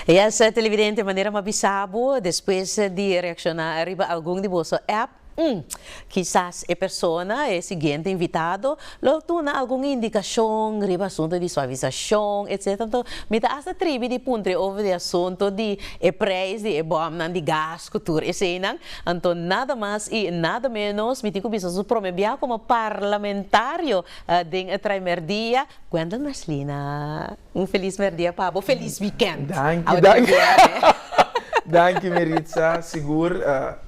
Yes televidente manera m'a bisa bo despues di reacciona riba algun di boso app mm kisas e persona e siguiente invitado lo tuna algun indicacion riba asunto di suavisacion etc anto mi ta hasta tribi di puntra e over di asunto di e prijs di e bomnan di gas cu tur eseinan. Anto nada mas y nada menos mi tin cu bisa su prome bia como parlamentario den e traimer dia, Gwendolyn Merslina. Un feliz merdia pa bo, feliz weekend. Danki danki danki Meritza sigur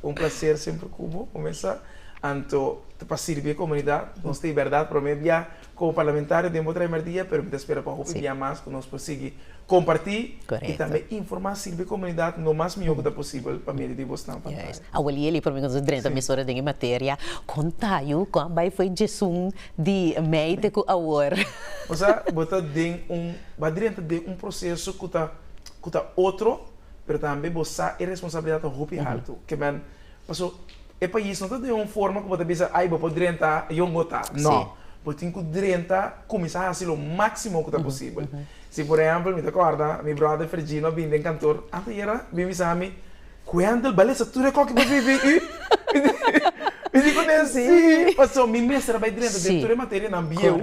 un placer semper cu bo, comesa anto ta pa sirbi e comunidad, nos ta e berdad prome bia. Como parlamentario den bo traimer dia pero mi ta spera pa hopi dia mas cu nos por sigui comparti y tambe informa sirbi e comunidad lo mas miho cu ta posibel pa medio di bosnan pantaya. Juist. Abueli Eli promi cu nos a drenta mes ora den e materia. Con ta yu con a bay fo'i djesun di mei te cu awor? O sa bo ta den un ba drenta den un proceso cu ta cu ta otro pero tambe bo sa e responsabilidad ta hopi halto. Ke men. Paso, e pais no ta den un forma ku bo ta bisa, ai bo por drenta e yon gota. No. Bo tin ku drenta, kuminsá hasi lo máksimo ku ta posibel. Si por ehèmpel, mi ta kòrda mi bròder Fergino a bini den kantor anteayera, a bini bisa ami, Wendel, balesa tur di akò ku bo vivi i? Mi di ku n'e, Sí. Paso, mi mester a bai drenta den tur e materianan bieu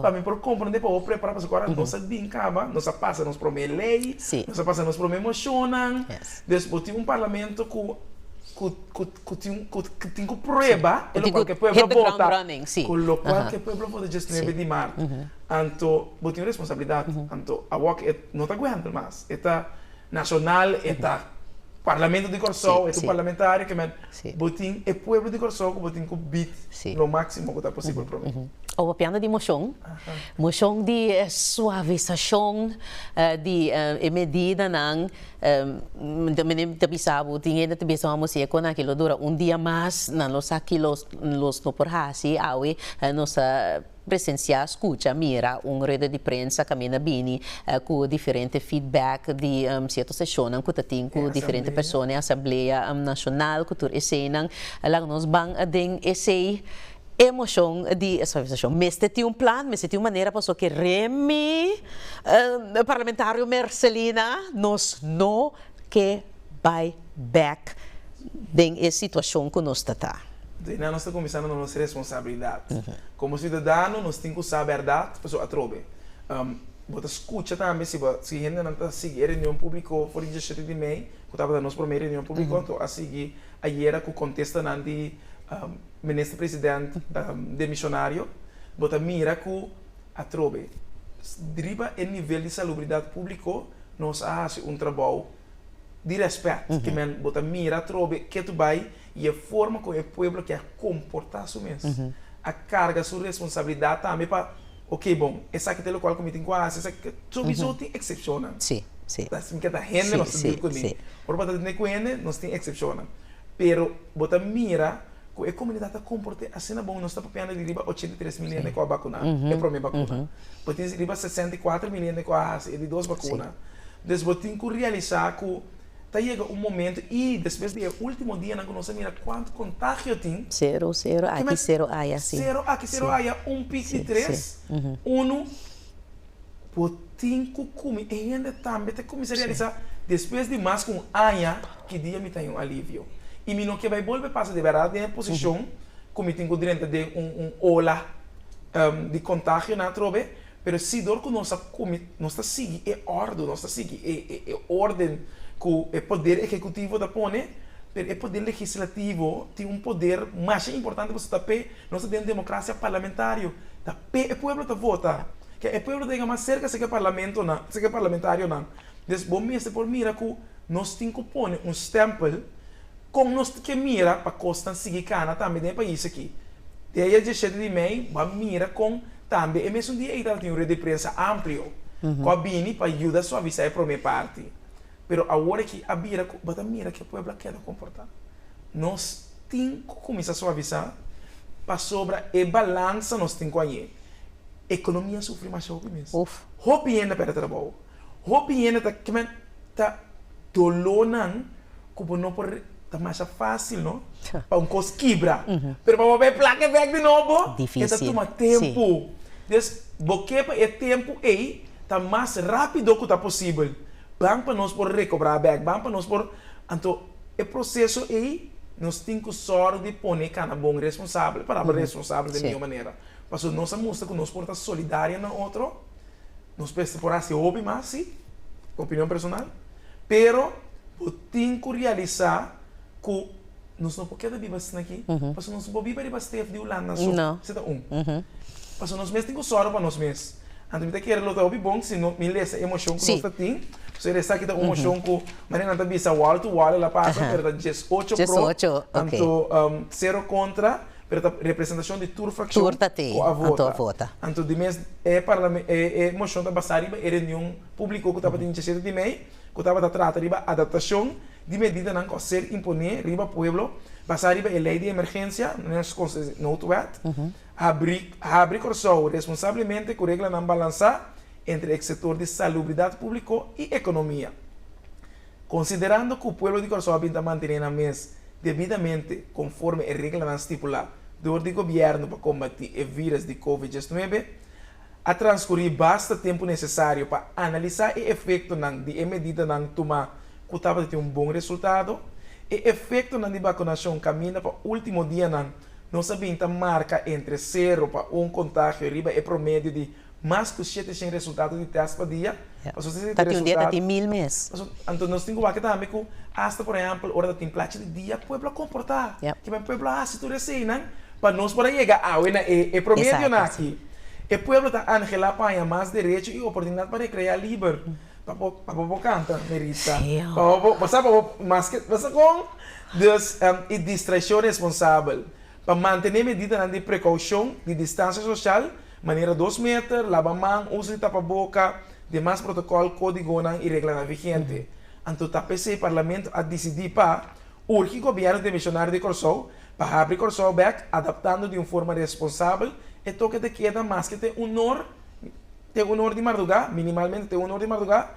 pa mi por komprondé pa bo prepará. Paso ku ora nos a bin kaba, nos a pasa nos promé lei, nos a pasa nos promé moshonnan. Des bo tin un parlamento cu cu tin cu tin cu prueba e lo cual cu e pueblo bota, cu lo cual cu e pueblo bota diesnuebe di maart, anto bo tin un responsabilidad, anto awo aki e no ta guenter mas, e ta nacional, e ta parlamento di Corsou, e ta un parlamentario que men, bo tin e pueblo di Corsou cu bo tin cu bied lo maximo cu ta posibel pro mi. Awo piensa di mocion, mocion di suavisacion di e medidanan. Ento mi ta bisa bo, tin hende ta bisa bo, mos sigue con aki, lo dura un dia mas, nan lo sa kilos los no por haci awe, nos a presencia, scucha, mira un rueda di prensa caminda bini cu diferente feedback di cierto stacionnan cu ta tin cu diferente persona, asamblea nacional cu tur eseinan, laga nos ban aden esei E moshon di e suavisashon mester tin un plan, mester tin un manera pasobra ke rèn mi, parlamentario Mercelina, nos no ke bai bèk den e situashon ku nos ta ta. Enton einan nos ta kuminsá duna nos responsabilidat. Komo siudadano nos tin ku sa bèrdat pasobra atrobe bo ta skucha tambe si bo si hendenan ta sigui e reunion públiko for di dieshete di mei ku tabata nos promé reunion públiko a sigui ayera ku kontestanan di. Minister President demishonario, bo ta mira cu atrobe riba e nivel di salubridad publico nos a haci un trabao di respet, ki men bo ta mira atrobe ke tu bay y e forma con e pueblo ke a comporta su mes, a carga su responsabilidad tambe pa ok bon esaki ta e locual cu mi tin cu haci esaki, chorizo tin excepcionnan, ta esaki ta hende nos ta deal cun'e, ora bo ta deal cun'e nos tin excepcionnan. Pero bo ta mira cu e comunidad ta comporte asina bon. Nos ta papiando di riba ochenta i tres mil hende cu a bacuna e prome bacuna. Bo tin riba sesenta i cuater mil hende cu a haci e di dos bacuna. Pues bo tin cu realisa cu ta yega un momento y despues di e ultimo dianan cu nos a mira cuantu contagio tin. Cero, cero aki, cero aya. Cero aki, cero aya, un pic di tres, uno. Bo tin ku kumi e hende tambe ta kuminsá realisá despues di mas ku un aña ki dia mi ta den un alivio i mi no ke bai bolbe pasa di bèrdat den e posishon ku mi tin ku drenta den un ola di kontagio nan atrobe, pero si dor ku nos ta sigui e òrdu, nos ta sigui e orden ku e poder ehekutivo ta pone, pero e poder legislativo tin un poder masha importante pasobra ta p'e nos ta den un demokrasia parlamentario. Pe e pueblo ta vota. Ke e pueblo ta yega mas serka seke parlamentonan, seke parlamentarionan. Des bo mester por mira ku nos tin ku pone un stèmpel kon nos ke mira pa kosnan sigui kana tambe den e pais aki. Dia dieshete di mei bo a mira kon tambe e mesun dia ei tabata tin un red di prensa amplio ku a bini pa yuda suavisá e promé parti. Pero awor aki a bira cu bo ta mira cu e pueblo a keda comporta. Nos tin cu cuminsa suavisa pasobra e balansa nos tin cu aye, economia a sufri masha hopi mes. Hopi hende a perde trabao. Hopi hende ta keme ta dolornan cu bo no por. Ta masha fácil no pa un kos kibra, pero pa bo bai plaka e bèk di nobo e ta tuma tempu. Des bo ke pa e tempu ei ta mas rápido ku ta posibel. Ban pa nos por rekobrá bèk, ban pa nos por. Anto e proseso ei nos tin ku sòru di pone kana bon responsabel, palabra responsabel den mihó manera. Pasobra nos a mustra ku nos por ta solidario na otro, nos mester por hasi hopi mas, si. Opinion personal. Pero bo tin ku realisá ku nos no por keda biba asina aki, pasobra nos no por biba riba stef di Hulanda aso. Esei ta un. Pasobra nos mes tin ku sòru pa nos mes. Anto mi ta kere lo ta hopi bon si no mi lesa e moshon ku nos ta tin. Pasobra e esaki ta un moshon ku manera nan ta bisa wòl tu wòl el a pasa, pero ta dies ocho pro, anto sero kontra. Pero ta representashon di tur frakshon ku a vota. Anto di mes e moshon ta basá riba e reunion públiko ku tabatin disiesete di mei ku tabata trata riba adaptashon di medidanan ku a ser imponé riba pueblo basá riba e lei di emergensia, nos konsesha di noodwet, habri Kòrsou responsablemente ku reglanan balansá entre e sektor di salubridat públiko i ekonomia. Konsiderando ku pueblo di Kòrsou a bin ta mantené nan mes debidamente konforme e reglanan stipulá dor di gobièrnu pa kombatí e vírus di Covid diesnuebe, a transkurí basta tempu nesesario pa analisá e efektonan di e medidanan tumá ku tabata tin un bon resultado. E efektonan di bakunashon kaminda pa último dianan nos a bin ta marka entre sero pa un kontagio riba e promedio di. Mas ku shete shen resultado di tèst pa dia. Pasobra si ta tin un dia ta tin mil mes. Anto nos tin ku wak tambe ku asta por ehèmpel ora ta tin plachi di dia pueblo a komportá. Kiba e pueblo a hasi tur esei nan pa nos por a yega awe na e promedionan aki. E pueblo ta anhelá paña mas derecho i oportunidat pa rekreá liber. P'abo bo kanta Neritza. P'abo bo, bo sa p'abo maske bo sa kon. Dus e distrashon responsabel pa mantené medidanan di prekoushon, di distansia soshal. Manera dos meter, laba man, usa di tapaboka, demas protokòl, kódigonan i reglanan vigente. Anto ta p'esei Parlamento a disidí pa urgi Gobièrnu den Misionario di Kòrsou pa habri Kòrsou bèk adaptando di un forma responsabel e toke ta keda maske te un nor te un or di mardugá, minimalmente te un or di mardugá,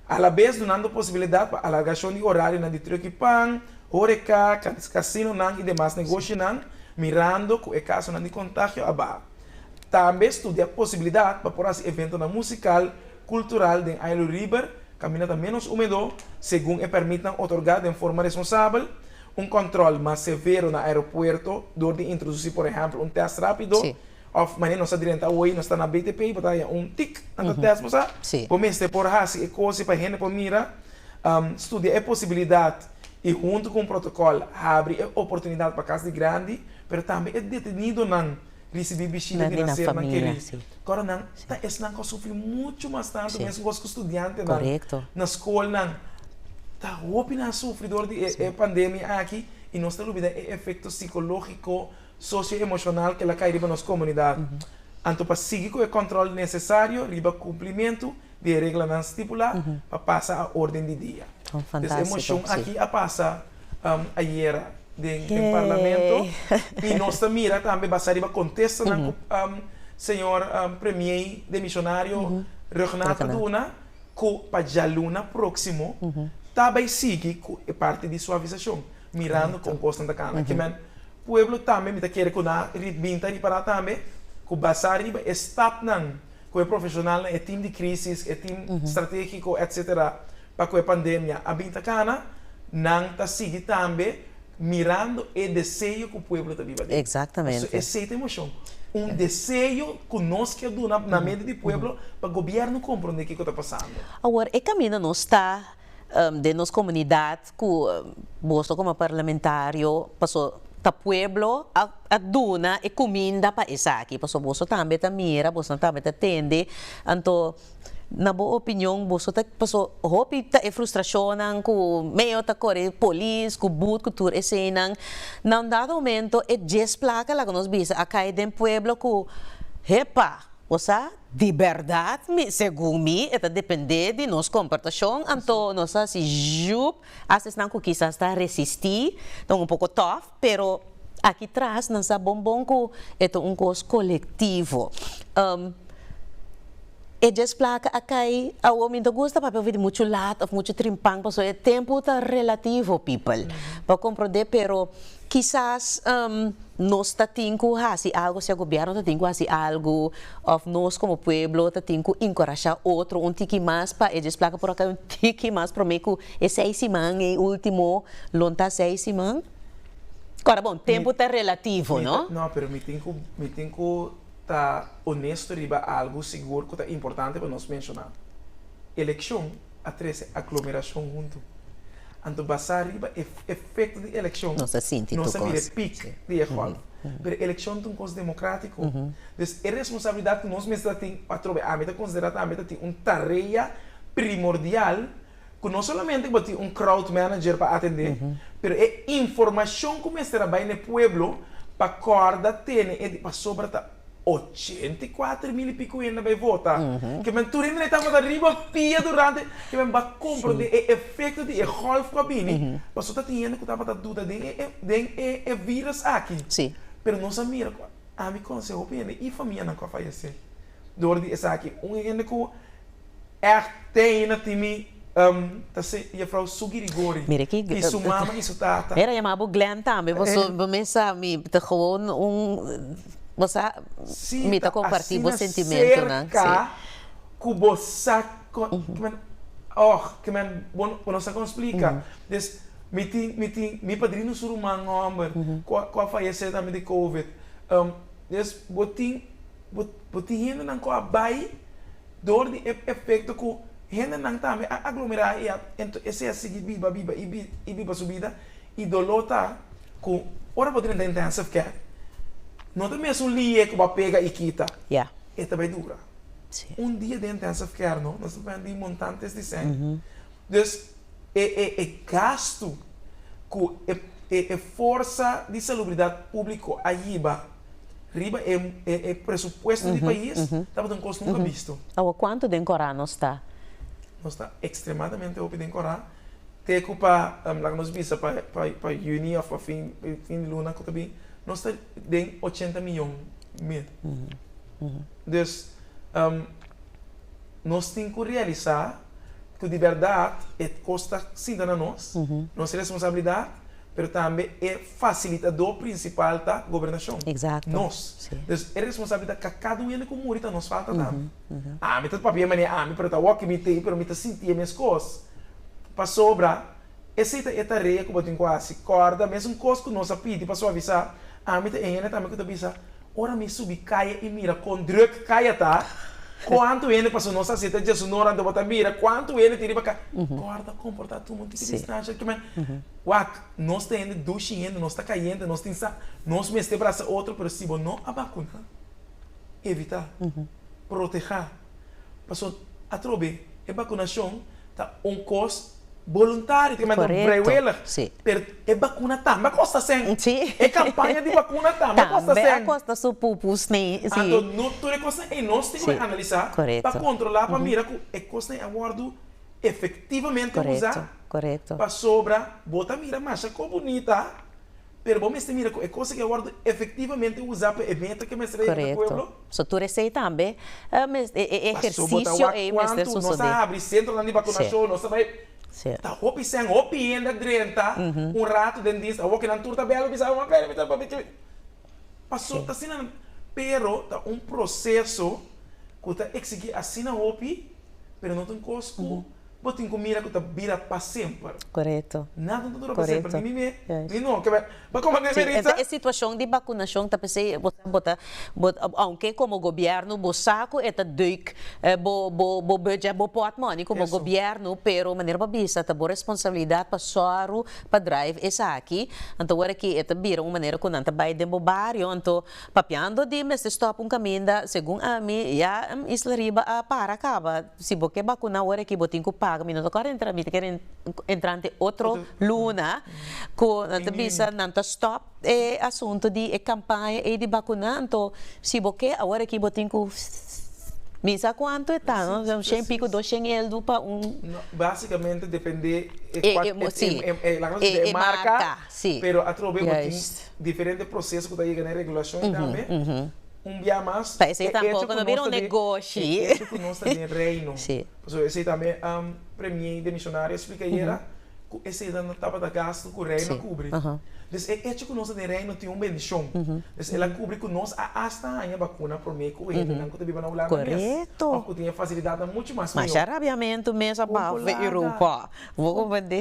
alabes dunando posibilidat pa alargashon di orarionan di tròki pan, horeká, kasinonan i demas negoshinan, mirando ku e kasonan di kontagio a baha. Tambe studia e posibilidat pa por hasi eventonan musikal, kultural den Ailui Riber, kaminata ménos húmedo, segun e pèrmitnan otorgá den forma responsabel, un kòntròl mas severo na aeropuerto dor di introdusí por ehèmpel un tèst rápido òf manera nos ta drenta awor nos ta na BTP y bo ta haña un tik nan ta tèst bo sa bo mester por hasi e kos pa hende por mira. Studia e posibilidat y huntu ku un protokòl habri e oportunidat pa kas di grandi Pero tambe e detenidonan risibi bishita di nacer na keri kor. Nan ta esnan ku a sufri muchu mas tantu mescos ku studiantenan. Na skolnan ta hopinan a sufri dor di e pandemia aki i nos ta lubida e efekto sikologiko, sosioemoshonal ku el a kai riba nos komunidat. Anto pa sigui ku e kòntròl nesesario riba kumplimentu di e reglanan stipulá pa pasa a órden di dia. Des e moshon akí a pasa ayera den Parlamento i nos ta mira tambe basá riba kontestanan ku señor Premiei demishonario Ruggenath ta duna ku pa djaluna próksimo ta bai sigui ku e parti di suavisashon mirando kon kosnan ta kanda. Kimen pueblo tambe mi ta kere ku nan ritbinta ripará tambe ku basá riba e stapnan. Cu e profesionalnan, e team di crisis, e team strategico, etc. Pa cu e pandemia a bin ta cana, nan ta sigui tambe mirando e deseo cu pueblo ta biba den. Pasobra esey ta e mocion. Un deseo cu nos ke duna na medio di pueblo pa gobierno comprende kico ta pasando. Awor, e caminda nos ta. den nos komunidat ku boso komo parlamentario paso ta pueblo a duna e kuminda pa esaki paso boso tambe ta mira boso tambe ta tende anto na bo opinion boso ta paso hopi ta e frustrashonnan ku meo ta kore polis ku but ku tur eseinan na un dado momento e dies plaka laga nos bisa a kai den pueblo ku hepa o sa Di bèrdat mi, segun mi e ta dependé di nos komportashon, anto nos ta hasi jup hasta esnan ku kisas ta resistí, ta un poko tòf, pero aki tras nan sa bon bon ku e ta un kos kolektivo. E djes plaka a kai, awo mi no ta gusta papia ofi di muchu lat òf muchu trimpan, pasobra e tempu ta relativo, pipel, bo a komprondé, pero. Kisas nos ta tin ku hasi algu, sea gobièrnu ta tin ku hasi algu òf nos komo pueblo ta tin ku enkurashá otro un tiki mas pa e desplaka por a kai un tiki mas promé ku e seis siman, e último lo ntá seis siman. Kòrda bon, tempu ta relativo, no? No, pero mi tin ku mi tin ku ta onesto riba algu sigur ku ta importante pa nos menshoná. Elekshon. a trese aglomeracion huntu. Anto basa riba e efecto di eleccion, nos a mira e pic di e golf. Pero eleccion ta un cos democratico, dus e responsabilidad cu nos mester ta tin atrobe ami ta considera tambe ta tin un tarea primordial cu no solamente cu bo tin un crowd manager pa atende, pero e informacion cu mester a bay na e pueblo pasobra ta. ochenta i kuater mil i piku hende bai vota. Ke men tur hende na e tabata riba pia durante ke men bai komprondé e efekto di e gòlf ku a bini, pasobra ta tin hende ku tabata duda den e den e e vírus aki. Pero nos a mira ku ami konosé hopi hende i famianan ku a fayesé dor di esaki. Un hende ku Echt tein na tin mi um ta se Jefrouw Sugirigori Mira ki y su mama y su tata. Era yama bo Glen tambe bo so bo me sa mi ta gewoon un bo sa si mi ta comparti bo sentimento nan si. Asina cerca cu bo sa kiman oh kiman bo bo no sa con splica des mi tin mi tin mi padrino su ruman homber cu cu a fayece tambe di covid um des bo tin. Bo tin hendenan ku a bai dor di e efekto ku hendenan tambe a aglomerá i a esei a sigui biba, biba i biba su bida. I doló ta ku ora bo drenta intensive care no ta mesun liye ku bo a pega i kita. E ta bai dura. Un dia den intensive care no nos ta depende di montantes di sèn. Dus e gastu ku e forsa di salubridat públiko a yiba. riba e presupuesto di pais tabata un kos nunka bisto. Awa kuantu den Kòrá nos ta? Nos ta ekstremadamente hopi den Kòrá, te ku pa laga nos bisa pa yüni òf pa fin di luna ku ta bin nos ta den ochenta miyon mil. Dus nos tin ku realisá ku di bèrdat e kos ta sinta na nos, nos responsabilidat pero tambe e fasilitadó prinsipal ta Gobernashon, nos. Dus e responsabilidat ta kada un hende ku muri ta nos falta tambe. Ami ta papia manera ami, pero ta awor ku mi ta ei, pero mi ta sinti e meskos. Pasobra esei ta e tarea ku bo tin ku hasi. Kòrda, mesun kos ku nos a pidi pa suavisá, ami ta e hende tambe ku ta bisa, Ora mi subi kaya i mira kon druk kaya ta, kuantu hende paso nos a seta dje su nor anto bo ta mira kuantu hende tin riba kaya. Kòrda ta komportá tumo un tiki distansha el kiman. Wak, nos ta hende dushi hende, nos ta kayente, nos tin sa, nos mester brasa otro, pero si bo no a bakuná, evitá, protehá. Paso, atrobe, e bakunacion ta un kos boluntario, ta manera vrijwillig, pero e bakuna tambe a kosta sen. E kampaña di bakuna tambe a kosta sen. Tambe a kosta su pupu sne. Anto, no tur e kosnan ei nos tin kube analisá pa kontrolá pa mira ku e kosnan ei a wòrdu efektivamente usá. Pasobra bo ta mira masha kos bunita. pero bo mester mira cu e cosa que a wordo efectivamente uza pa e meta que mester a yega na pueblo. Corecto. So tur esey tambe e ehercicio ey mester sucede. Pasobra ta wak cuanto nos a habri centronan di vacunacion, nos a bay, ta hopi shen, hopi hende a drenta un rato den dies, awo kinan tur ta bel a bisa, mama pere mi ta papia kibi. Paso ta asina nan, pero ta un proceso cu ta exigi asina hopi, pero no ta un cos cu. Bo tin ku mira ku ta bira pa semper. Korekto. Nada no ta dura pa semper, ni mi mes, ni no. Kibè? Bo komo mi, Meritza? E situashon di bakunashon ta p'esei bo sa bo ta, bo ta, ounke komo gobièrnu bo sa ku e ta dùik, bo, bo, bo budjè bo pòt mòni komo gobièrnu, pero manera bo a bisa ta bo responsabilidat pa sòru pa drive esaki. Anto ora ki e ta bira un manera ku nan ta bai den bo bario, anto papiando di mester stòp un kaminda, segun ami, ya Isla Riba a para kaba. Si bo ke bakuna ora aki bo tin ku paga, mi no ta kore entra, mi ta kere entra ante otro luna ku nan ta bisa nan ta stòp e asuntu di e kampaña ei di bakuna, anto si bo ke awor aki bo tin ku mi sa kuantu e ta, un shen piko dos shen eldu pa un. No, basikamente depende e kual laga nos bisa e marka, pero atrobe bo tin diferente proseso ku ta yega na e regulashon ei tambe. Un bia mas, e echo ku nos ta den, e echo ku nos ta den Reino. Pasobra esei tambe Premier de Misionario a splika ayera ku esei ta no tabata gastu ku Reino a kubri. Dus e echo ku nos ta den Reino tin un bendishon. Dus el a kubri ku nos a asta haña bakuna promé ku e hendenan ku ta biba na Hulanda mes òf ku tin e fasilidatnan muchu mas mihó.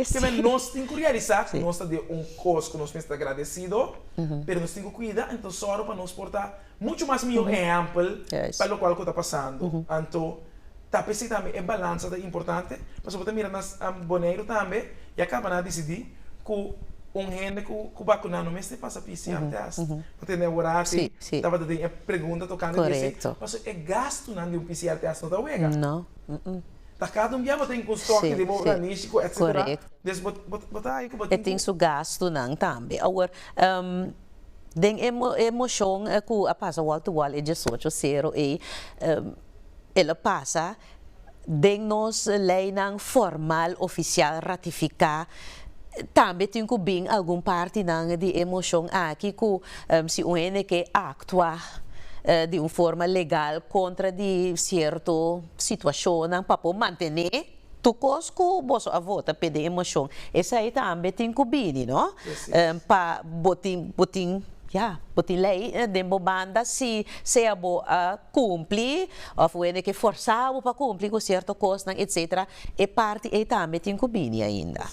Kimes nos tin ku realisá ku nos ta den un kos ku nos mester ta gradesido? pero nos tin cu cuida, anto sor pa nos por ta mucho mas miho ehempel pa locual cu ta pasando. Anto ta p'esey tambe e balansa ta importante, pasobra bo ta mira na Boneiru tambe ya cabana dicidi cu un hende cu bacuna no mester pasa pcr test, bo tende awor aci tabata den e pregunta tocante di esey, pasobra e gastonan di un pcr test no ta wega. Ta cada un bia bo ta yin cu un stoki riba bo organisico etcetera des bo bo ta haña cu bo tin cu. E tin su gastunan tambe. Awor den e e mocion cu a pasa wal to wal e diesocho sero ey e lo pasa den nos leynan formal oficial ratifica tambe tin cu bin algun partinan di e mocion aki cu si un hende ke actua di un forma legal contra di cierto. Situacionnan pa por mantene tur cos cu boso a vota pe den emocion esai tambe tin cu bini no pa bo tin bo tin ya bo tin ley den bo banda si sea bo a cumpli of bo hende ke forsa bo pa cumpli cu cierto cosnan etc. E parti ey tambe tin cu bini ainda.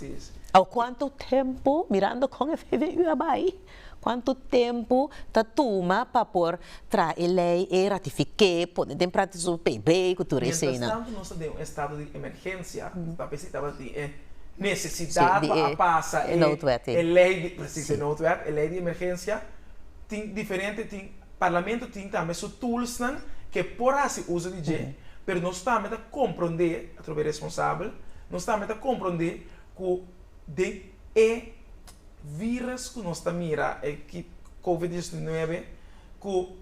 Awo cuanto tempo mirando con e VVU a bay. Cuantu tempu ta tuma pa por traha e ley ey, ratifiké, pone den practica su PB cu tur eseinan? Mientras tanto nos ta den un estado di emergencia, papia si tabata tin e necesidad pa a pasa e noodwet ey, e ley di, precies, e noodwet, e ley di emergencia, tin diferente, tin, Parlamento tin tambe su toolsnan ke por haci uso di dje, pero nos tambe ta comprendé, atrobe responsabel, nos tambe ta comprendé cu den. e virus ku nos ta mira e ki covid diecinuebe ku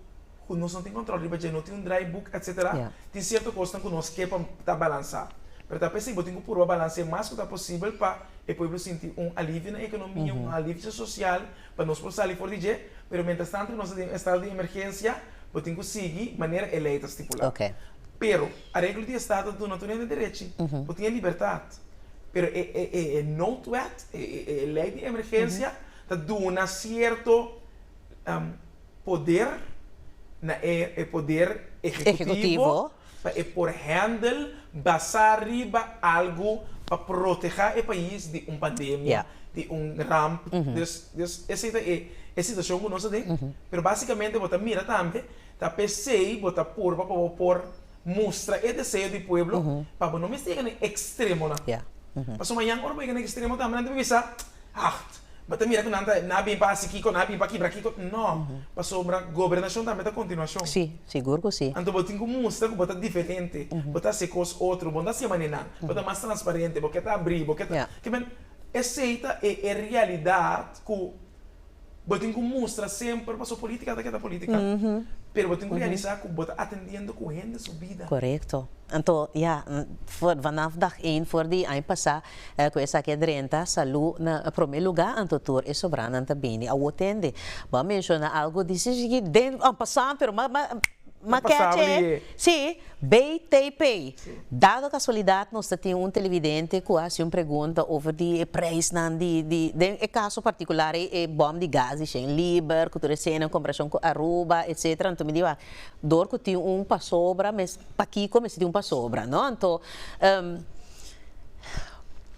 ku nos no tin kontrol riba dje no tin un draibuk etsetera ya tin sierto kosnan ku nos ke pa ta balansa pero ta p'esei bo tin ku purba balanse mas ku ta posibel pa e pueblo sinti un alivio na ekonomia un alivio sosial pa nos por sali for di dje pero mientras tanto ku nos ta den un estado di emergensia bo tin ku sigui manera e lei ta stipula oke pero areglo di estado ta duna tur hende derechi bo tin e libertad. Pero e e noodwet, e e lei di emergensia, ta duna sierto poder na e e poder ehecutivo pa e por handle basá riba algu pa protegá e pais di un pandemia, di un ramp. Dus dus esei ta e e situashon ku nos ta den. Pero básikamente bo ta mira tambe ta p'esei bo ta purba pa bo por. mustra e deseo di pueblo pa bo no mester yega na e extremonan. Pasobra mañan ora bo yega na e extremo tambe nan ta por bisa, Acht, bo ta mira ku nan ta, nan a bin pa hasi kiko, nan a bin pa kibra kiko. No, pasobra gobernashon tambe ta kontinuashon. Anto bo tin ku mustra ku bo ta diferente, bo ta hasi e kos otro, bo no ta hasi manera nan, bo ta mas transparente, bo ke ta abrí, bo ke ta, kimin? Esei ta e realidat ku Bo tin ku mustra semper paso politika ta keda politika, pero bo tin ku realisa ku bo ta atendiendo ku hende su bida. Korekto. Anto ya, vanaf dag ein for di aña pasá ku esaki a drenta, salú na promé lugá, anto tur e sobranan ta bini awor tende. Bo a menshona algu di si shigi den aña pasá, pero ma. Ta pasaba di e. Sí, bay tay pay. Dado casualidad nos ta tin un televidente cu a haci un pregunta over di e prijsnan di di den e caso particular ey e bom di gas di shen liber cu tur esena en comparacion cu Aruba etcetera anto mi di wak door cu tin un pasobra mes pakico mester tin un pasobra no anto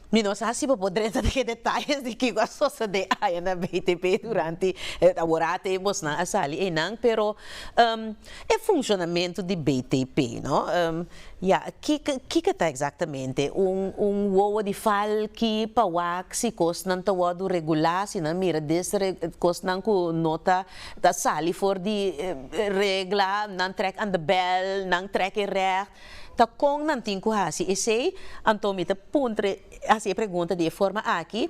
mi no sa si bo por drenta den e detalles di kico a sosode aya na bay tay pay durante e temporada ey bosnan a sali eynan pero E funshonamentu di BTP, no? Ya, kiko ta eksaktamente un wowo di fal ki pa wak si kosnan ta wòrdu regulá, si nan mira kosnan ku no ta sali for di regla, nan trèk an de bèl, nan trèk e règt, ta kon nan tin ku hasi esei? Anto mi ta puntra hasi e pregunta di e forma aki.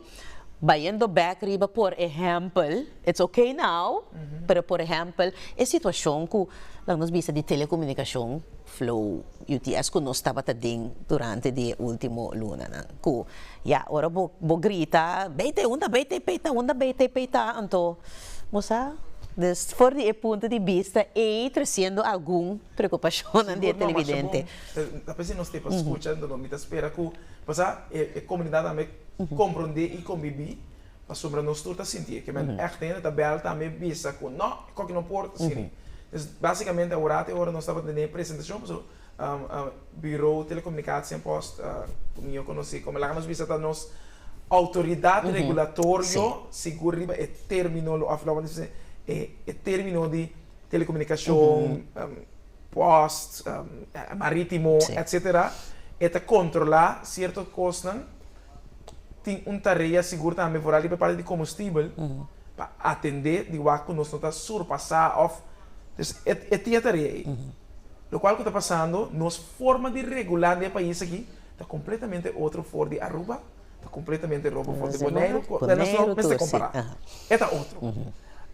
Bayendo bek riba por ehèmpel, it's ok now, pero por ehèmpel e situashon ku lak nos bisa di telekomunikashon, Flow, UTS ku nos tabata den durante di e último lunanan, ku ya ora bo bo grita Beite unda beite peita unda beite peita anto bo sa des for di e punto di bista ei tresiendo algun preokupashonnan di e televidente. Sigur no, Marsha bon, a pesar nos tepa skucha mi ta spera ku pasá e komunidat tambe comprende y conbibi pasobra nos tur ta sinti eke men echt hende ta bel tambe bisa cu no e coki no por ta siri dus basicamente a ora te ora nos tabata tene presentacion paso Bureau Telecomunicatie en Post cu mijo conoci como laga nos bisa ta nos autoridad regulatorio sigur riba e termino lo of lo cual nos bisa e termino di telecomunicacion. post, maritimo, etc. E ta controla cierto cosnan. Tin un tarea sigur tambe, vooral riba e parte di combustibel, pa atende di wak cu nos no ta surpasa of. Dus e tin e tarea ey. Locual cu ta pasando, nos forma di regula den e pais aki ta completamente otro for di Aruba, ta completamente robo for di Boneiru, cu nos no mester compara. E ta otro.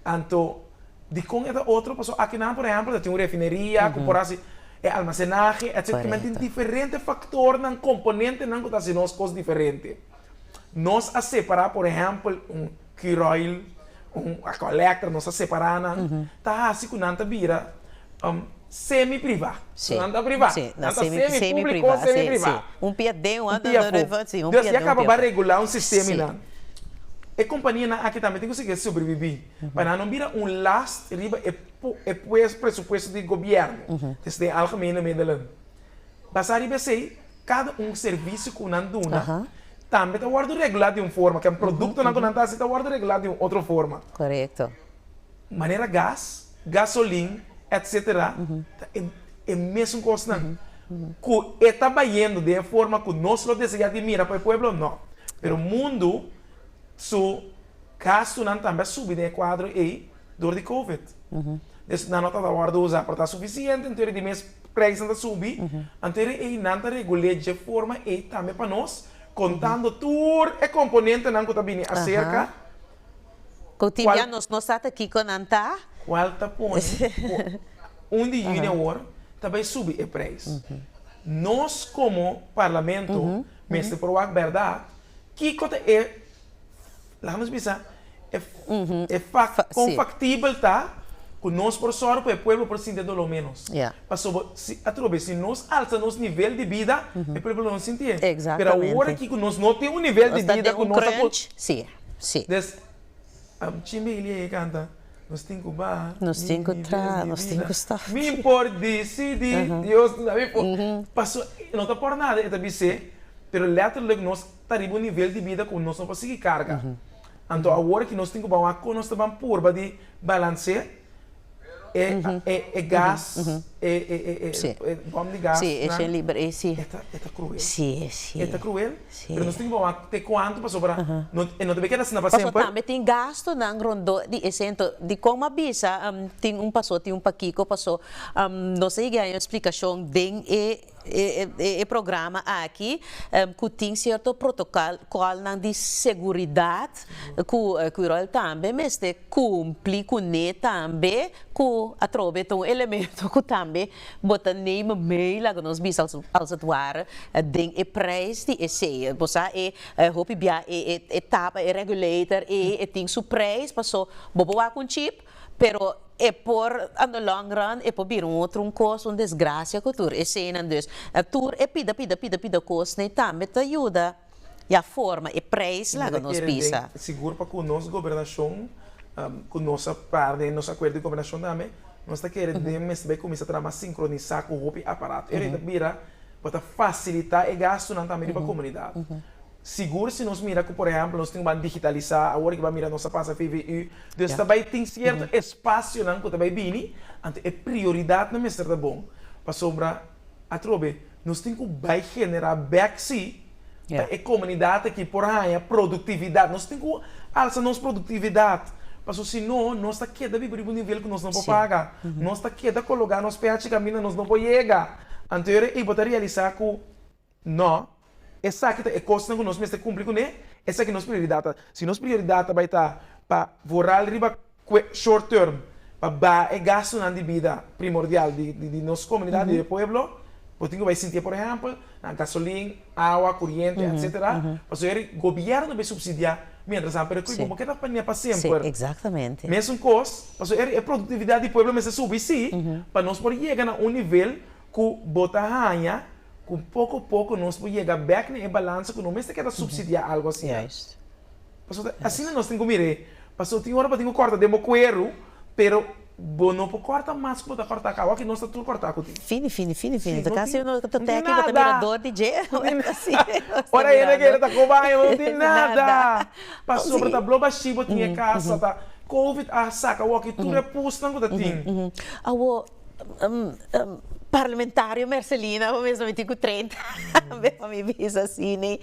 Anto. Dikon e ta otro? Pasobra akinan, por ehèmpel, ta tin un refineria, korporasio, e almasenahe, etcétera kiman tin diferente faktornan, komponentenan ku ta hasi nos kos diferente. Nos a separá, por ehèmpel, un cure oil, un collector, nos a separá nan, ta hasi ku nan ta bira semi-privá. Pasobra nan ta privá, nan ta semi-públiko, semi-privá. Un pia den, un pia afu. Dòs, ya kaba ba regulá un sistema einan. E kompanianan aki tambe tin konsegui subribibí. Pa nan no bira un last riba e presupuesto di gobièrnu, desde e algemene middelen. Basá riba esei, kada un servisio ku nan duna tambe ta wòrdu regulá di un forma, ken produktonan ku nan ta hasi ta wòrdu regulá di un otro forma. Manera gas, gasolin, etc. Ta e mesun kosnan. Ku e ta bayendo den e forma ku nos lo deseá di mira pa e pueblo? No. Pero mundu. Su gastunan tambe a subi den e kuadro ei dor di covid. Pues nan no ta ta wòrdu usa por ta sufisiente anto di mes preisnan ta subi, anto di ei nan ta regul'é dje forma ei tambe pa nos, kontando tur e komponentenan ku ta bini aserka, Ku tin bia nos no sa ta kiko nan ta. Kual ta pone ku un di yuni awor ta bai subi e preis. Nos komo Parlamento mester por wak bèrdat. Kiko ta e, laga nos bisa, e, e fak, kon faktibel ta ku nos por sòru ku e pueblo por sinti e doló ménos? Pasobra si, otro bes, si nos alsa nos nivel di bida, e pueblo lo no sinti e. Pero awor aki ku nos no tin un nivel di bida ku nos ta por, des. Am chin di Ilie e canta Nos tin cu baha, Nos tin cu tra, Nos tin cu stop. Mi por dicidi, Dios mi da mi for. Pasobra e no ta por nada e ta bis'e, pero letterlijk nos ta riba un nivel di bida cu nos no por sigui carga. Anto awor aki nos tin cu baha un akko nos ta ban purba di balancé. E e gas e e bom di gas nan e ta cruel e ta cruel pero nos tin ki bawa te cuanto pasobra no e no ta keda asina pa semper. Paso tambe tin gasto nan rondo di esei ento di con mi a bisa tin un paso tin un pakico paso nos ta yega a un explicacion den e. E programa aki ku tin sierto protokolnan di seguridat ku Curoil tambe mester kumpli kuné tambe ku atrobe ta un elemento ku tambe bo ta neme mee laga nos bisa als het ware den e prijs di e sea. Bo sa e hopi bia e tapa e regulator e tin su prijs paso bo bo wak un chip Pero e por on the long run e por bira un otro un cos, un desgracia cu tur esenan. Dus tur e pida pida pida pida cosnan y tambe ta yuda ya forma e prijs laga nos bisa. Sigur pa cu nos gobernacion cu nos a para den nos acuerdo di gobernacion tambe nos ta kere den mester bay cuminsa traha mas sincronisa cu hopi aparato y areita bira bo ta facilita e gastonan tambe riba comunidad. sigur si nos mira cu por ehemplo nos tin un ban digitalisa awor ki ban mira nos a pasa VVU dus ta bay tin cierto espacionan cu ta bay bini anto e prioridad nan mester ta bon pasobra atrobe nos tin cu bay genera bek si pa e comunidad aki por haya productividad nos tin cu alsa nos productividad paso si no nos ta keda biba riba un nivel cu nos no por paga nos ta keda cologa nos peachi caminda nos no por yega anto yo ora ey bo ta realisa cu. No, esaki ta e kosnan ku nos mester kumpli kuné, esaki nos prioridat ta. Si nos prioridat ta bai ta pa voral riba short term, pa baha e gastunan di bida primordial di nos komunidat, di e pueblo, bo tin ku bai sintié por ehèmpel na gasolin, awa, kuriente, etsetera, pasobra eri gobièrnu bai supsidiá miéntras amper e kui, bo no ke ta panié pa semper. Mesun kos, pasobra eri e produktividat di pueblo mester subi sí, pa nos por yega na un nivel Ku bo ta haña ku poko poko nos por yega bèk na e balansa ku no mester keda supsidiá algu asina? Pasobra ta asina nos tin ku mir'é. Pasobra tin ora bo tin ku kòrta den bo kueru, pero bo no por kòrta mas ku bo ta kòrta aká, wak nos ta tur kòrta ku tin. Fini, fini, fini, fini. Ta kasi uno ku ta tèkiko, ta miradó di dje. Ora hende keda ta koba haña bo no tin nada. Pasobra ta blòk bashí bo tin e kasa, ta. Covid a saka wak tur e pusnan ku ta tin. Awor. Parlamentario Mercelina bo mes no mi tin ku treinta aña pa mi bisa si ne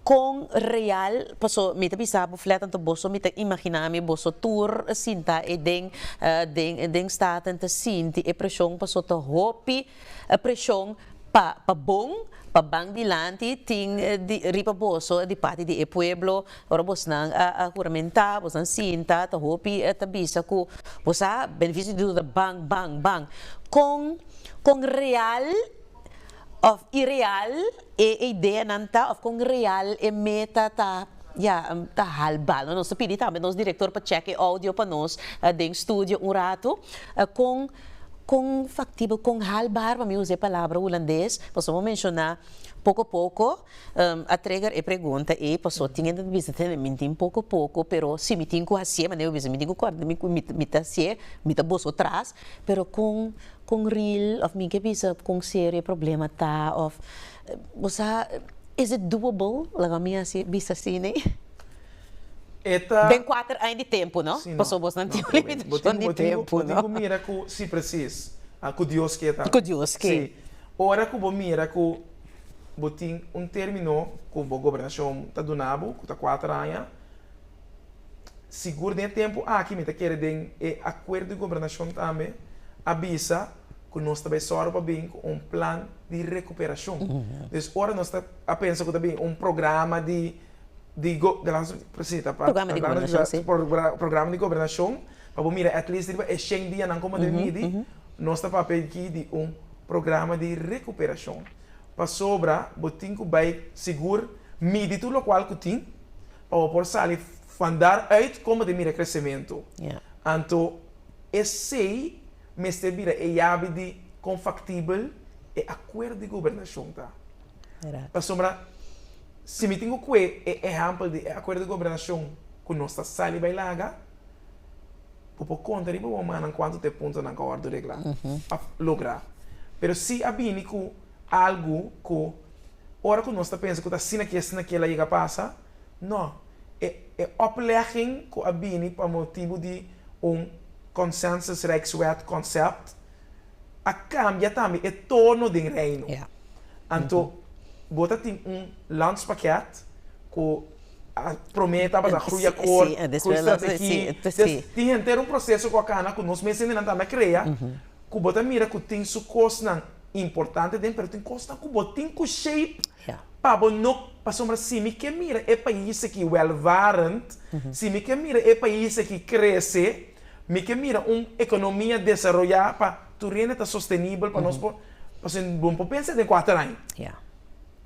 kon real paso mi ta bisa bo flat anto boso mi ta imagina mi boso tur sinta aden den den staten ta sinti e presion paso ta hopi E preshon pa pa bon, pa ban dilanti tin di riba boso di parti di e pueblo. Ora bosnan a a huramentá, bosnan sinta, ta hopi ta bisa ku bo sa beneficio di duda ban, ban, ban. Kon kon real òf ireal? E ideanan ta of kon real e meta ta, ya, ta hal bal. Nos ta pidi tambe nos direktor pa chèk e oudio pa nos den studio un ratu. Kon kon faktibel, kon haalbaar, pa mi usa e palabra hulandes, pasobra bo menshoná poko poko, a trigger e pregunta ei, pasobra tin hende ta bisa tende mi tin poko poko, pero si mi tin ku hasié, manera bo bisa mi tin ku kòrda mi ta hasié, mi ta boso tras, pero kon Kon ril of mi ke bisa kon serio e problema ta of bo sa is it doable laga mi hasi bisa si ne den kuater aña di tempu no paso bos nan tin un limitashon di tempu no. Bo tin ku mira ku si presis ku Dios ke tambe ku Dios ke si ora ku bo mira ku bo tin un termino ku bo gobernashon ta duna bo ku ta kuater aña. sigur den e tempu aki mi ta kere den e akuerdo di gobernashon tambe a bisa ku nos ta bai sòru pa bin ku un plan di rekuperashon. Pues ora nos ta a pensa ku ta bin un programa di di si ta pa programa di gobernashon pa bo mira at least riba e shen dianan kon bo debe midi nos ta papia aki di un programa di rekuperashon pasobra bo tin ku bai sigur midi tur lokual ku tin Bo por sali van daar uit como te mira crecemento. Anto esey mester bira e yabi di con factibel e acuerdo di gobernacion ta. Pasobra si mi tin cu cue e ehempel di e acuerdo di gobernacion cu nos ta sali bay laga, bo por conta riba bo mannan cuanto ta e puntonan cu a wordo regla, logra. Pero si a bini cu. Algu ku ora ku nos ta pensa ku ta asina ke asina ke el a yega pasa, no. E e oplegging ku a bini pa motibu di un Consensus-Rijkswet konsept a kambia tambe e tono den Reino. Anto bo ta tin un landspakket ku a promé tabata a groeiakkoord, groeistrategie, des tin henter un proseso ku a kana ku nos mes hendenan tambe a krea ku bo ta mira ku tin su kosnan. importante den pero tin cosnan cu bo tin cu shape pa bo no pasobra si mi ke mira e pais aki welvarend si mi ke mira e pais aki crece mi ke mira un economia desaroya pa tur hende ta sostenibel pa nos por pasobra bo no por pensa den cuater aña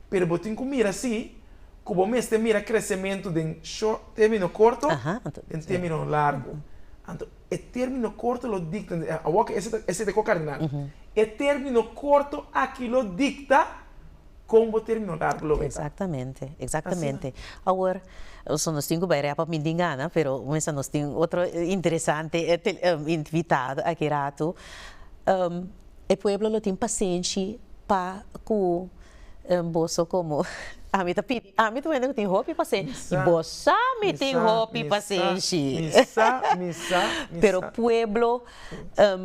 pero bo tin cu mira si cu bo mester mira crecemento den short termino corto den termino largo. E término korto lo dikta, awor ke ese ta ese ta ko-kardinal, e término korto aki lo dikta kon bo término largo lo meta. Exactamente, exactamente. Awor, so nos tin ku bai repa mindi ngana, pero mester nos tin otro interesante invitado aki ratu. E pueblo lo tin pasenshi pa ku Boso komo ami ta pidi, ami ta wende ku tin hopi pasenshi i bos sa mi tin hopi pasenshi. Pero pueblo,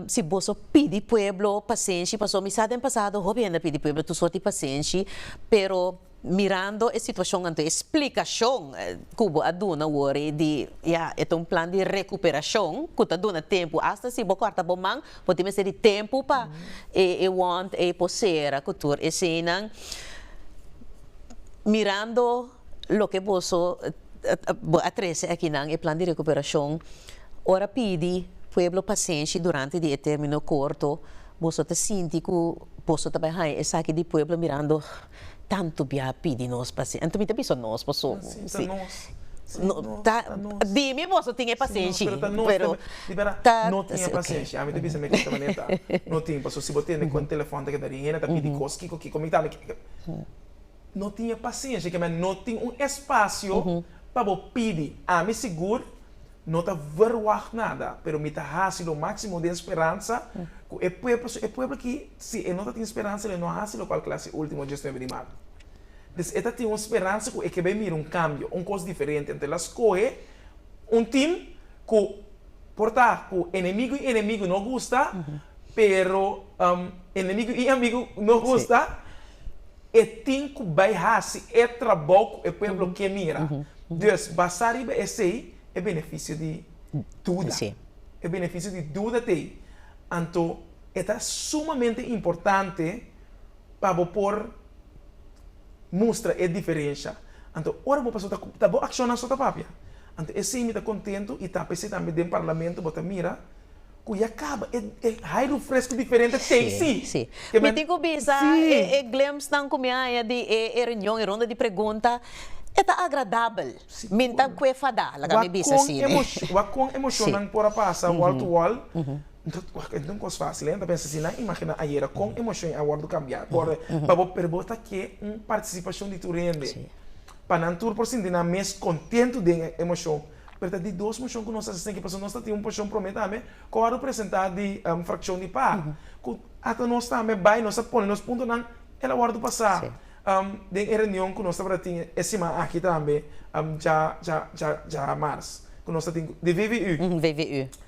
si boso pidi pueblo pasenshi, pasobra mi sa den pasado hopi hende a pidi pueblo tur sort di pasenshi, pero mirando e situashon anto e splikashon ku bo a duna wor di ya e ta un plan di rekuperashon ku ta duna tempu, asta si bo kòrta bo man por tin mester di tempu pa e wond ei por sera cu tur eseinan mirando loke boso bo a trece akinan e plan di recuperacion ora pidi pueblo pasenshi durante di e termino corto boso ta sinti cu boso ta bay haya esaki di pueblo mirando. Tantu bia a pidi nos pasenshi. Anto mi ta bisa nos paso. Si, ta nos. Si, nos. No, ta nos. Di mi boso tin e pasenshi. Si, nos. Pero ta nos tambe. Pero di bera. Ta, si, ok. No tin e pasenshi. Ami ta bisa mi kiko ta manera ta. No tin. Paso si bo tende ku un telefòn ta keda di hende ta pidi kos kiko kiko mi tambe ke. No tin e pasenshi. Ke mester no tin un espasio pa bo pidi. Ami sigur. No ta verwagt nada, pero mi ta hasi lo maximo den speransa cu e pueblo, so e pueblo aki si e no ta tin speransa lo e no hasi locual cu el hasi e ultimo diasnuebe di marzo. Entonces e ta tin un speransa cu e ke bay mira un cambio, un cos diferente. Entonces el a scoge un team cu por ta cu enemigo y enemigo no gusta, pero enemigo y amigo no gusta, e tin cu bay hasi e trabao cu e pueblo ke mira. Dus, basá riba esei, e benefisio di duda. E benefisio di duda ta ei. Anto e ta sumamente importante pa bo por mustra e diferensha. Anto ora bo pasobra ta bo akshonnan so ta papia. Anto esei mi ta kontentu i ta p'esei tambe den parlamento bo ta mira. ku ya kaba e hai rufresku diferente tasty. Sí, sí. Mi tin ku bisa e glimpsnan ku mi a haña di e reunion, e ronda di pregunta, e ta agradabel. Mi ta kuefada, la ka mi bisa así. Wak kon emoshonnan por a pasa wall to wall. Wak, e no ta un kos fásil, e. Nan ta pensa si nan imaginá ayera kon emoshon e a wòrdu kambiá kòrda pa bo, pero bo ta ke un partisipashon di tur hende pa nan tur por sinti nan mes kontentu den e emoshon. Pero ta di dos moshon ku nos a hasi esei, pasobra nos ta tin un poshon promé tambe ku a wòrdu presentá di frakshon di pa, ku ata nos tambe bai, nos a pone nos puntonan, el a wòrdu pasá den e reunion ku nos tabata tin e siman aki tambe, djamars, ku nos ta tin di VVU.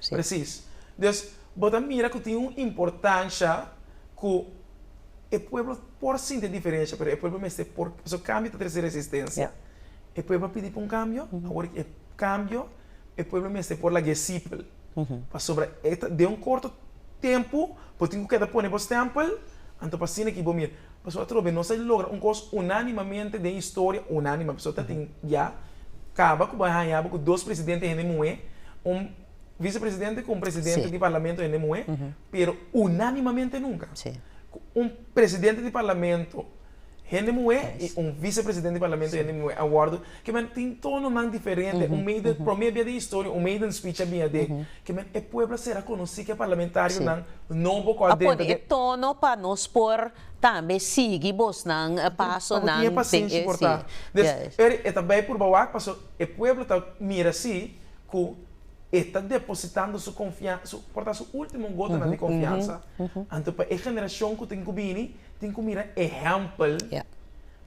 Presis. Dus, bo ta mira ku tin un importansha ku e pueblo por sinti diferensha, pero e pueblo mester por, pasobra kambio ta trese resistensia. e pueblo a pidi pa un kambio, awor e kambio e pueblo mester por laga e sipel, pasobra e ta den un korto tempu bo tin ku keda pone bo stèmpel, anto pa asina ki bo mira. Pasobra atrobe nos a logra un kos unánimamente den historia, unánime pasobra ta tin ya kaba ku bo a haña bo ku dos presidente hende muhé, un visepresidente ku un presidente di parlamento hende muhé, pero unánimamente nunka. Ku un presidente di parlamento. Hende muhé i un visepresidente di parlamento hende muhé a wòrdu ke men tin tononan diferente. Un meiden, promé bia den historia un meiden speech a bin a den ke men e pueblo a sera konosí ke parlamentarionan nobo ku a denta den. A pone e tono pa nos por tambe sigui bosnan pasonan. P'abo tin e pasenshi por ta. Des eri e ta bai purba wak paso e pueblo ta mira si ku e ta depositando su konfiansa, su por ta su último gotanan di konfiansa. Anto pa e generashon ku tin ku bini. Tin ku mira ehèmpel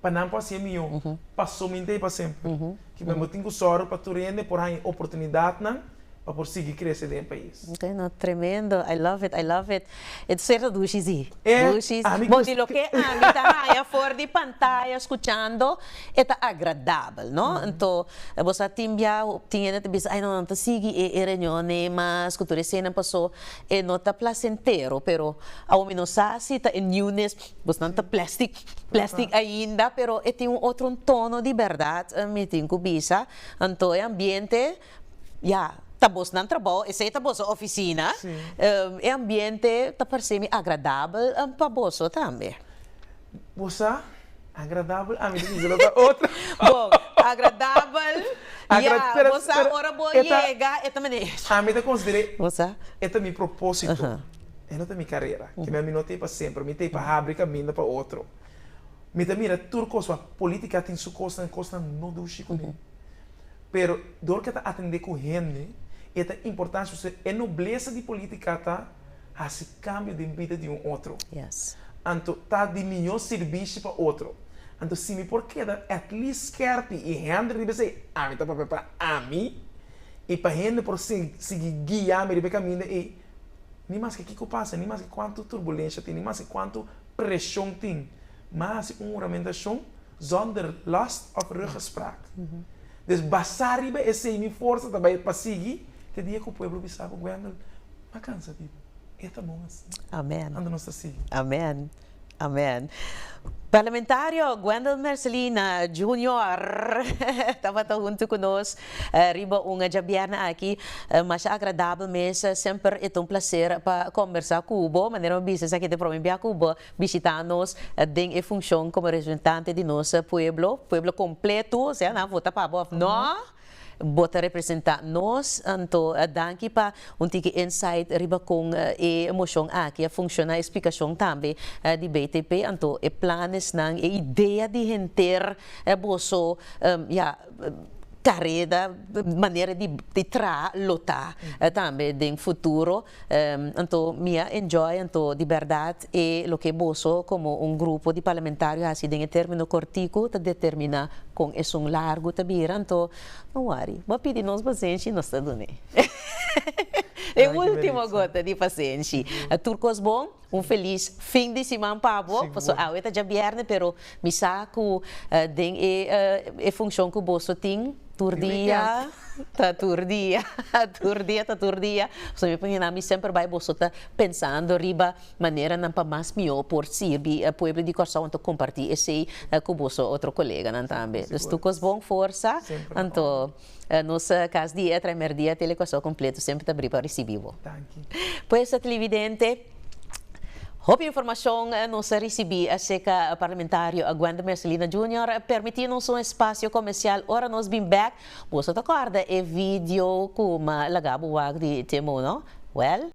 pa nan por hasié mihó pa su mente i pa semper. Ki men bo tin ku sòru pa tur hende por haña oportunidatnan pa por sigui krese den e pais. No, tremendo. I love it, I love it. E ta serta dushi sí. E Dushi. ami Bo di loke ami ta haña for di pantaya skuchando, e ta agradabel, no? Anto, bo sa tin bia tin hende ta bisa, ai no, nan ta sigui e e reunionnan mas ku tur esenan pasó. E no ta placentero pero awor mi no sa si ta e niunes bosnan ta plastic plastic ainda pero e tin un otro tono di berdad mi tin cu bisa anto e ambiente ya ta bosnan trabao esey ta boso oficina e ambiente ta parcemi agradabel pa boso tambe. Bo sa? Agradabel ami ta bisa lo ta otro. Bo, agradabel, ya, bo sa ora bo yega e ta mane. Ami ta consider'e e ta mi proposito, e no ta mi carera, kib'e ami no ta ei pa semper, mi ta ei pa habri caminda pa otro. Mi ta mira tur cos, wa, politica tin su cosnan, cosnan no dushi cune. Pero dor ke ta atende cu hende, e ta importante, su se e nobleza di politica ta. hasi kambio den bida di un otro. Anto ta di mihó sirbishi pa otro. Anto si mi por keda at least skèrpi i hende riba esei, ami ta papia pa ami i pa hende por sigui guia mi riba e kaminda ei, ni maske kiko pasa, ni maske kuantu turbulensha tin, ni maske kuantu preshon tin, mi a hasi un huramentashon zonder last of ruggespraak. Dus basá riba esei mi forsa ta bai pa sigui, te dia ku pueblo bisa ku Wendel, pa cansa di e ta bon así amen anda nos ta sigui amen amen parlamentario Wendel Mercelina Junior tabata hunto cu nos riba un djabièrnè aki masha agradabel mes semper e ta un placer pa combersa cu bo manera mi bisa esaki e ta e prome bia cu bo bishita nos den e funcion como representante di nos pueblo pueblo completo sea nan a vota pa bo of no. Bo ta representa nos, anto danki pa un tiki insight riba kon e moshon aki a funciona, e splicacion tambe di BTP, anto e planesnan, e idea di henter boso ya careda, manera di traha lo ta tambe den futuro. Anto mi a enjoy anto di berdad e loke boso como un grupo di parlamentario haci den e termino cortico ta determina con esun largo ta bira anto no worry bo a pidi nos pasenshi y nos ta dun'e e ultimo gota di pasenshi tur cos bon. Un felis fin di siman pa bo. Paso awe ta dja bierne pero mi sa cu den e funcion cu boso tin tur dia ta tur dia tur dia ta tur dia. Paso mi pone na mi semper bay boso ta pensando riba maneranan pa mas mihor por sirbi pueblo di Corsou anto comparti esey cu boso otro coleganan tambe. Dus tur cos bon forsa anto. Nos kas di e tremer dia te lekuaso kompleto semper ta bri pa risibi bo. Danki. Pues tlividente, hopi informashon nos a risibi aserka Parlamentario Aguend Mercelina Junior. Permití nos un espasio komersial. Ora nos bin bèk, boso ta kòrda e video ku mi a laga bo wak di Timo, no? Wèl.